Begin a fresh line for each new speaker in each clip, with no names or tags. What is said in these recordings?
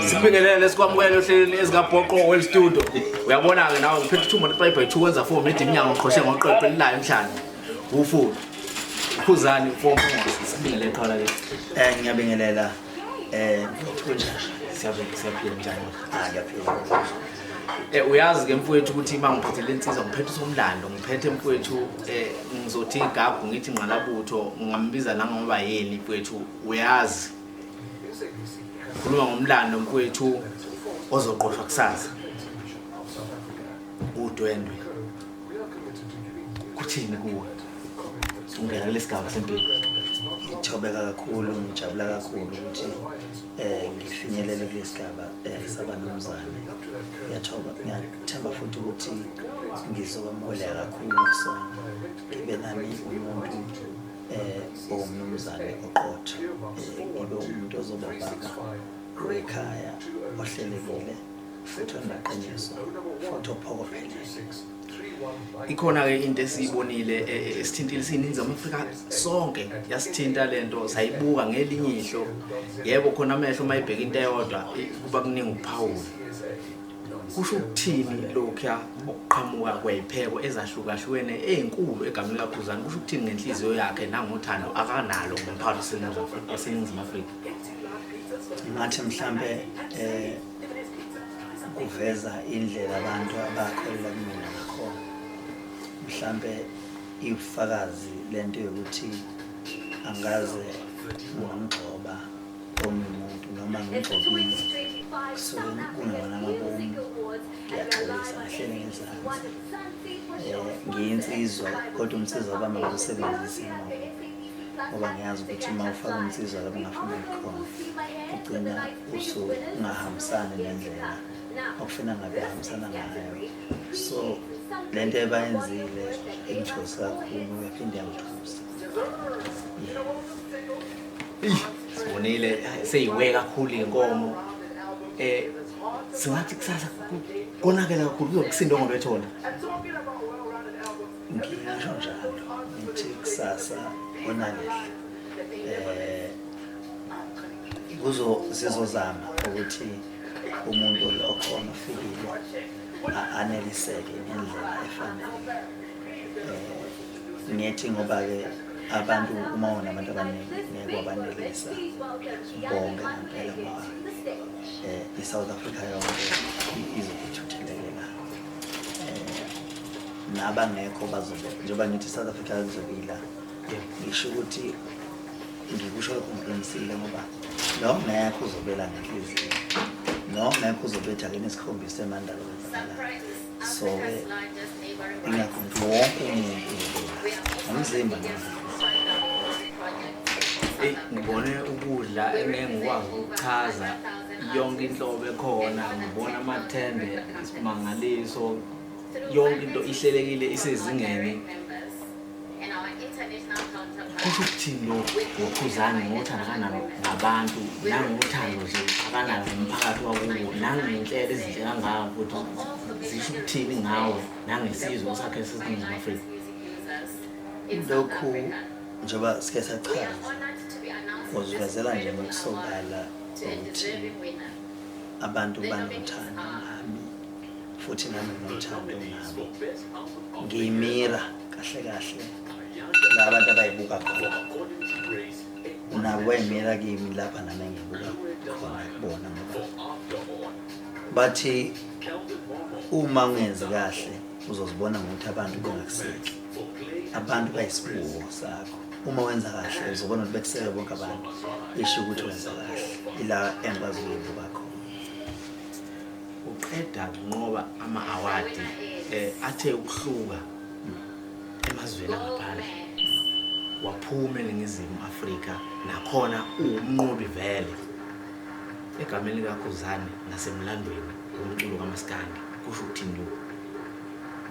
sibingelele sikwamukele ohlelweni ezikabhoqo well studio uyabona-ke nawe ngiphethe ithumba le-five by two wenza four mede iminyango ngiqhoshe ngoqeqe lilayo emhlanje ufudu ukhuzani four sibingelele qhala ke eh ngiyabingelela eh
Eh uyazi ke mfowethu ukuthi
uma ngiphethe le nsizwa ngiphethe usomlando ngiphethe mfowethu eh ngizothi igagu ngithi ngqalabutho ngambiza nangoba yini mfowethu uyazi khuluma ngomlando mfowethu ozoqoshwa kusasa udwendwe kuthini kuwe ungena kulesi gaba sempilo ngithobeka
kakhulu ngijabula kakhulu ukuthi um ngifinyelele kule sigaba um saba nomzane ngiyathoba ngiyathemba futhi ukuthi ngizokwamukela kakhulu kusona ngibe nami umuntu um owumnumzane oqotho um ngibe umuntu ozoba ubaba wekhaya ohlelekile futhi onaqiniso futhi ophokophelele
ikhona-ke into esiyibonile e, e, esithintile siyininzi afrika sonke yasithinta le nto sayibuka ngelinye ihlo yebo khona amehlo uma ibheka into eyodwa kuba kuningi ukuphawula kusho ukuthini lokhuya ukuqhamuka kwey'pheko ezahlukahlukene ey'nkulu egameni likakhuzane kusho ukuthini ngenhliziyo yakhe nangothando akanalo ngomphakathi waseningizimu afrika
ngathi mhlampe um kuveza indlela abantu abakholelwa kumina ngakhona mhlampe iwufakazi lento yokuthi angaze ngamgxoba omuntu noma ngigcokile kusukela kungebona amabomu ngiyaxolisa ngahlele ngezansi um ngiyinsizwa kodwa umsiza waba mawusebenzise ngoba ngiyazi ukuthi uma ufaka umsiza lapho ngafuna ikhona ugcina usungahambisani nendlela okufuna ngabe hambisana ngayo so le nto ebayenzile ingithosi kakhulu yaphinde yangithusa
sibonile seyiwe kakhulu inkomo eh singathi kusasa konakela kakhulu kuzokusinda ngoba ethona
ngisho njalo ngithi kusasa konakele eh kuzo sizozama ukuthi umuntu okhona ufikile aneliseke ngendlela efanele eh ngithi ngoba-ke abantu uma unabantu abaningi ngeke wabanelisa bonke ngempela ngoba um i-south africa yonke izokuthuthelekela um eh, nabangekho bazobe njengoba ngithi i-south africa izobila ngisho ukuthi ngikusho ngiqinisile ngoba nongekho uzobela ngenhliziyo nongekho uzobetha kini isikhombisa emandalo wenzakalayo so ingakhonto wonke umuntu nomzimba eyi
ngibone ukudla engeke ngikwazi ukuchaza yonke inhlobo ekhona ngibona amathende isimangaliso yonke into ihlelekile isezingeni kusho ukuthini lo wokhuzane ngothanda kanalo ngabantu nangothando nje akanalo ngomphakathi wakuwo nangenhlelo ezinhle kangaka futhi zisho ukuthini ngawo nangesizwe sakhe sesiningizimu afrika
lokhu njengoba sike sachaza ngozivezela nje ngokusobala ukuthi abantu banothando nami futhi nami nginothando nabo ngiyimira kahle kahle la abantu abayibuka khona nabo bayimira kimi lapha nami engibuka khona kubona ngoba bathi uma ungenzi kahle uzozibona ngokuthi abantu bengakuseki abantu bayisibuko sakho uma wenza kahle uzobona ukuthi bekuseke bonke abantu isho ukuthi wenza kahle ila engikwazi ukuyibuka khona uqeda
kunqoba ama-awadi eh, athe ukuhluka emazweni angaphandle waphuma eningizimu afrika nakhona uwumnqobi vele egameni likakhuzane nasemlandweni womculo kamaskandi kusho ukuthini lokhu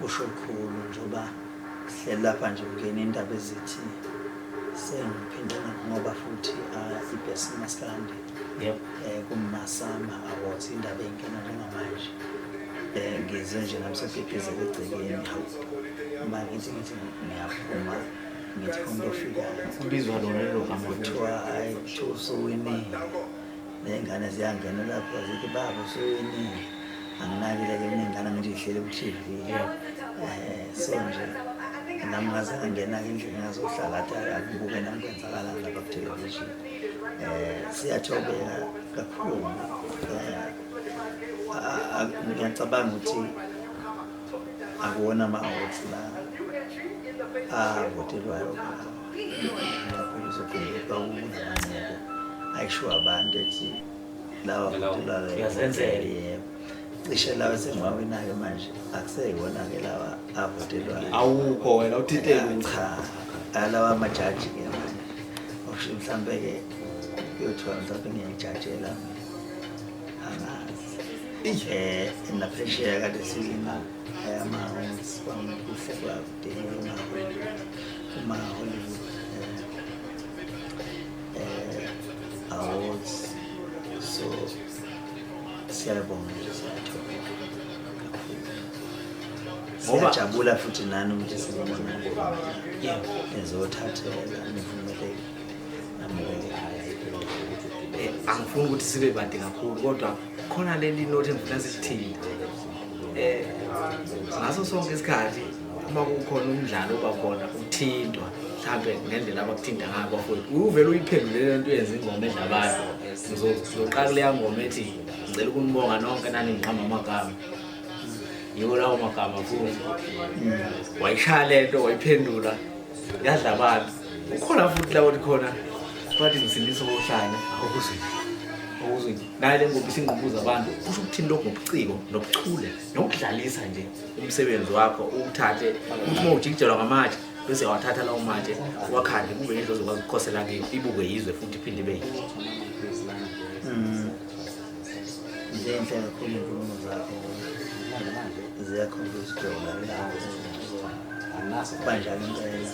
kusho
kukhulu njengoba sihleli lapha nje kungena indaba ezithi sengiphinde ngoba futhi ah, ibhesi maskandi Yep. Eh
kumasama
awards indaba enkena njengamanje. Eh ngizwe nje nami sesiphipheze egcekeni hawu. Uma ngithi ngithi ngiyaphuma ngithi umuntu
ofika
ubizwa lona
lelo gama kuthiwa
ayi
kuthiwa usuwinile.
Nezingane ziyangena lapho zithi baba usuwinile. Anginakile ke kunengane ngithi ihlele ku TV. Eh so nje nami ngazangena ke endlini ngazohlala athi akubuke nami kwenzakala lapha ku television. eh siyathobela kakhulu eh, ngiyacabanga ukuthi akuwona ama-awards la avotelwayo kakhulu sokhumbuka kunamanqoko ayisho abantu ethi lawa votelwayo yebo cishe lawa esengiwawinayo manje akuseyibona-ke lawa avotelwayo awukho wena
uthintele cha
alawa amajaji-ke manje okusho mhlawumbe-ke kuyothiwa mhlawumbe ngiyayijajela angazi um naphesheya kade silima amahosi kwamukuhle kwakudinga uma-hollywood um awards so Siyabonga. Ngoba jabula futhi nani ukuthi sizobona. Yebo, ezothathela nivumeleke. Amukele haya impilo ukuthi ugibele.
Eh, angifuni ukuthi sibe bade kakhulu kodwa khona leli note engifuna sithini. Eh, ngaso sonke isikhathi uma kukhona umdlalo oba khona uthintwa mhlambe ngendlela abakuthinta ngayo bafowethu. Uvele uyiphendule lento yenza ingoma edla abantu. sizoqala kuleya ngoma ethi ngicela ukunibonga nonke naningiqamba amagama yiwo lawo magama futhi wayishaya le nto wayiphendula yadla abantu ukhona futhi lawo likhona bathi ngisindisa obuhlanya okuzwini okuzwini naye le ngoba isingqubuza abantu kusho ukuthini lokhu ngobuciko nobuchule nokudlalisa nje umsebenzi wakho uwuthathe uma ujikijelwa ngamatshe bese wathatha lawo matshe wakhande kube yindlu ozokwazi ukukhosela kiyo ibukwe yizwe futhi iphinde ibe yinhle mm.
nje inhle kakhulu inkulumo zakho ziyakhombisa ujola banjalo impela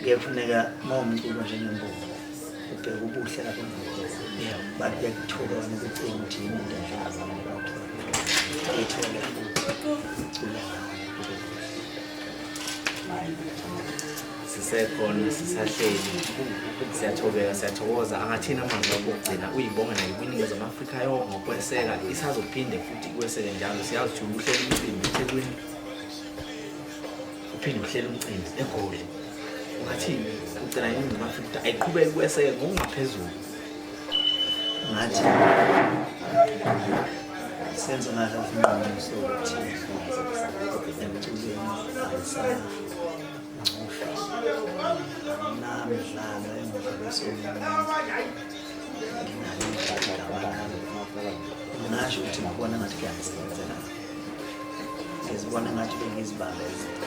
kuyefuneka uma umculo njengembongo ubheke ubuhle lapho bantu kuyakuthuka nokucinga ukuthi yini into enjalo ethole ukucula
sisekhona sisahleli siyathobeka siyathokoza angathini amazwi wakho okugcina uyibonga nayo kwiningizimu afrika yonke ngokweseka isazophinde futhi kweseke njalo siyazi ukuthi uhlela umcimbi ethekwini uphinde uhlela umcimbi egoli ungathini ugcina iningizimu afrika ukuthi ayiqhubeke kweseke ngokungaphezulu
ngathi senze ngathi isinqumo sokuthi emculweni angisana namdlalo engihlabesonginasho ukuthi ngibona ngathi kuyangisebenzela ngizibona ngathi bengizibambezela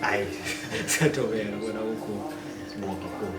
Hayi,
siyatobela kona ukho.
Bonke
kubo.